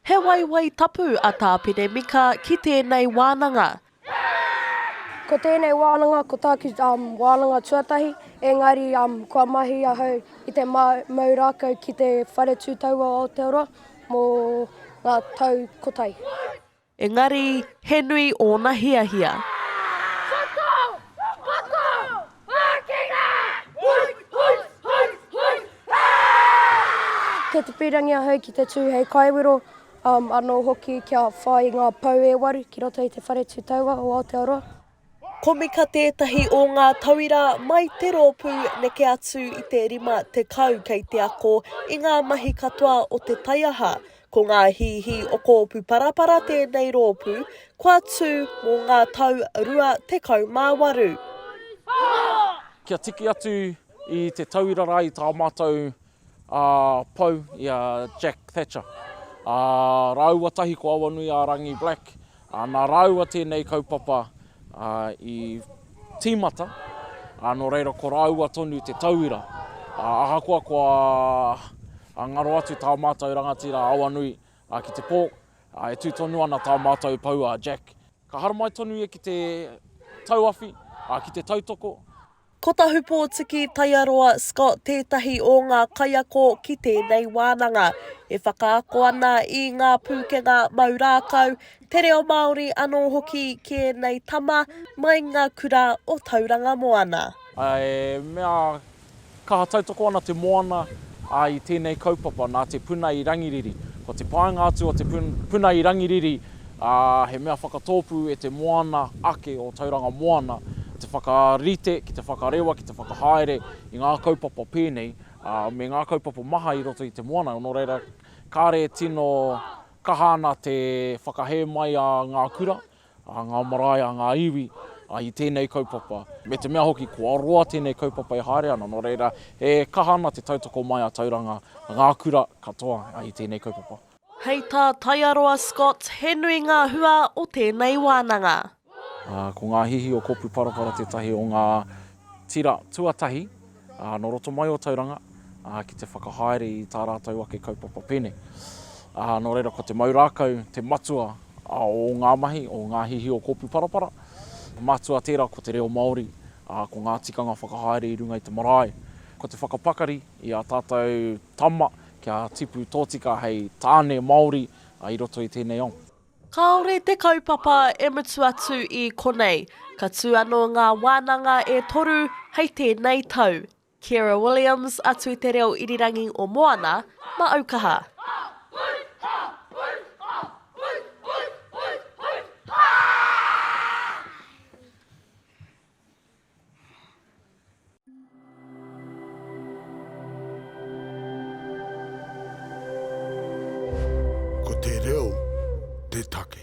He waiwai tapu a Tāpene Mika ki tēnei wānanga. Ko tēnei wānanga ko tāku wānanga tuatahi, engari kua mahi ahau i te mau rākau ki te Whare Tū Taua o Aotearoa mō ngā tau kotahi. Engari, he nui ōna hiahia. Koko! Koko! Ākina! Hui! Hui! Hui! Hui! Aaaa! Kei te pīrangi ahau ki te tū hei kaiwero, āmm, anō hoki kia whai ngā pou e waru ki roto i te Whare Tū Taua o Aotearoa. Komika tētahi o ngā tauira mai te rōpū neke atu i te 50 kei te ako i ngā mahi katoa o te taiaha. Ko ngā hīhī o Kōpu Parapara tēnei rōpū, kua tū mō ngā tau 28. Kia tiki atu i te tauira rā i tā mātou ā, pau i a Jack Thatcher, ā, rāua tahi ko Awanuiārangi Black, ā, nā rāua tēnei kaupapa i tīmata, ā, nō reira ko rāua tonu te tauira, ā, ahakoa kua ngaro atu tā mātou rangatira Awanui ki te pō, ā, e tū tonu ana tā mātou pau a Jack. Ka haramai tonu ia ki te tauawhi, ā, ki te tautoko. Ko Tahupōtiki Taiaroa Scott tētahi o ngā kaiako ki tēnei wānanga. E whakaako ana i ngā pūkenga mau rākau, te reo Māori anō hoki ki ēnei tama mai i ngā kura o Tauranga Moana. He mea kaha tautoko ana te moana i tēnei kaupapa nā te puna i Rangiriri. Ko te paenga atu o te puna i Rangiriri, ā, he mea whakatōpū e te moana ake o Tauranga Moana te whakarite ki te whakarewa, ki te whakahaere i ngā kaupapa pēnei, ā, me ngā kaupapa maha i roto i te moana, nō reira, kāre e tino kaha ana te whakahē mai a ngā kura, a ngā marae, a ngā iwi, ā, i tēnei kaupapa. Me te mea hoki, kua roa tēnei kaupapa e haere ana, nō reira, e kaha ana te tautoko mai a Tauranga, ngā kura katoa i tēnei kaupapa. Hei tā Taiaroa Scott, he nui ngā hua o tēnei wānanga. Ko ngā hihi o Kopu Parapara tētahi o ngā tira tuatahi nō roto mai o Tauranga ki te whakahaere i tā rātou ake kaupapa pēne. Nō reira, ko te mau rākau te matua o ngā mahi o ngā hihi o Kopu Parapara. Matua tērā ko te reo Māori, ko ngā tikanga whakahaere i runga i te marae, ko te whakapakari i ā tātou tama, Kia tipu tōtika hei tāne Māori i roto i tēnei ao. Kāore te kaupapa e mutu atu i konei, ka tū anō ngā wānanga e toru hei tēnei tau. Ciara Williams, atu i te reo irirangi o Moana, ma Aukaha. Ko te reo te take.